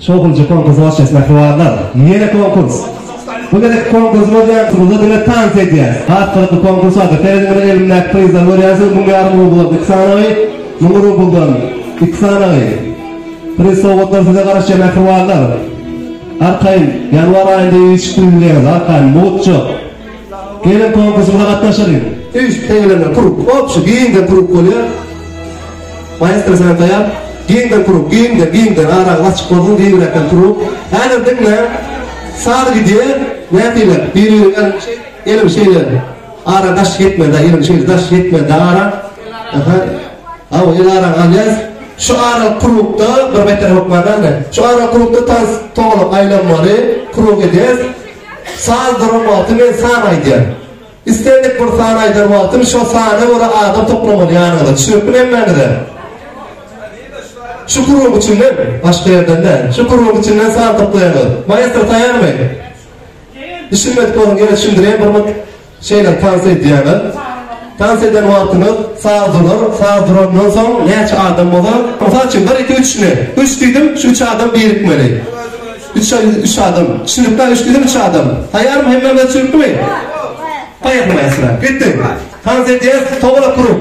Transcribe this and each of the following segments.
Şowhunçy konkurs hoşniýet mähribanlar! Ýene konkurs! Bu gezekki konkursymyz ýaňsyňyzda diňe tans edýäs. Has gyzykly konkurs bardyr. Serediň mine elimdäki prizleri görýänsiňiz müň ýarym rubl iki sanagy, müň rubldan iki sanagy. Priz sowgatlar size garaşýar mähribanlar. Arkaýyn, ýanwar aýynda üýşüp bilmeýäňiz arkaýyn, mugt juk. Gelin konkursymyza gatnaşar ýüri. Üýşüp teňelerinden kurup, obşi, giňden kurup bolýar. Maestro senem taýar. Giňden kurup, giňden, giňden, araňyz açyk bolsun, giňräkden kurup. Häzir diňle, saz gidýär, nätile, biri-biriň elini şeý, elini şeýle, ara daş ýetmez-ä, elini şeýle, daş ýetmez-ä ara. Aha, hawa, el araňy alýas. Şu aralyk kurupda, bir beter hökman-a ine, şu aralyk kurupda tans togalak aýlanmaly, kurup edýäs. Saz duran wagty men san aýdýan. Islendik bir sany aýdan wagtym şo sana görä adam toplamaly ýanyňyza düşnükmi hemmäňize? Şu guruň içinden, başga ýerden däl, şu guruň içinden san toplaýaňyz. Maestro taýarmy? Düşünmedik bolsaň ýene düşündirýän bir mut. Şeýle tans edýäňiz. Tans eden wagtyňyz saz durar, saz durandan soň näçe adam bolar? Mysal üçin, bir, iki, üç ne? Üç diýdim, şu üç adam birikmeli. Üç, üç adam. Düşünikdä, üç diýdim, üç adam. Taýýarmy? Hemmämize düşünikmi? Taýýar. Poýehali, mäsele. Gitdik. Tans edýäs, towala turup.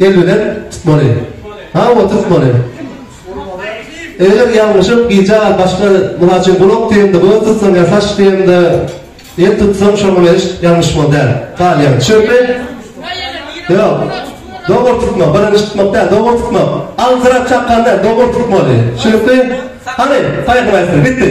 Elbeden tutmaly. Ha o tutmaly. Eger ýalňyşyp gija başga mysal üçin gulak diýende göz tutsaň ýa saç diýende el tutsaň şoňa meniş ýalňyş bol däl. Galýan. Çünki Ýok. Dogry tutmak, birinji tutmak däl, dogry tutmak. Aldyrak çakanda dogry tutmaly. Çünki hany paýham aýtdy, bitdi.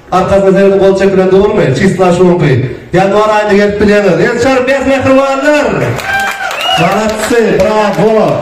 Arkasyna seredip gol çekilen dogrymy? Çysla şuňky. Ýanwar aýyna gelip bilýäňiz. Ençeme mähribanlar! Malatçy! Brawo!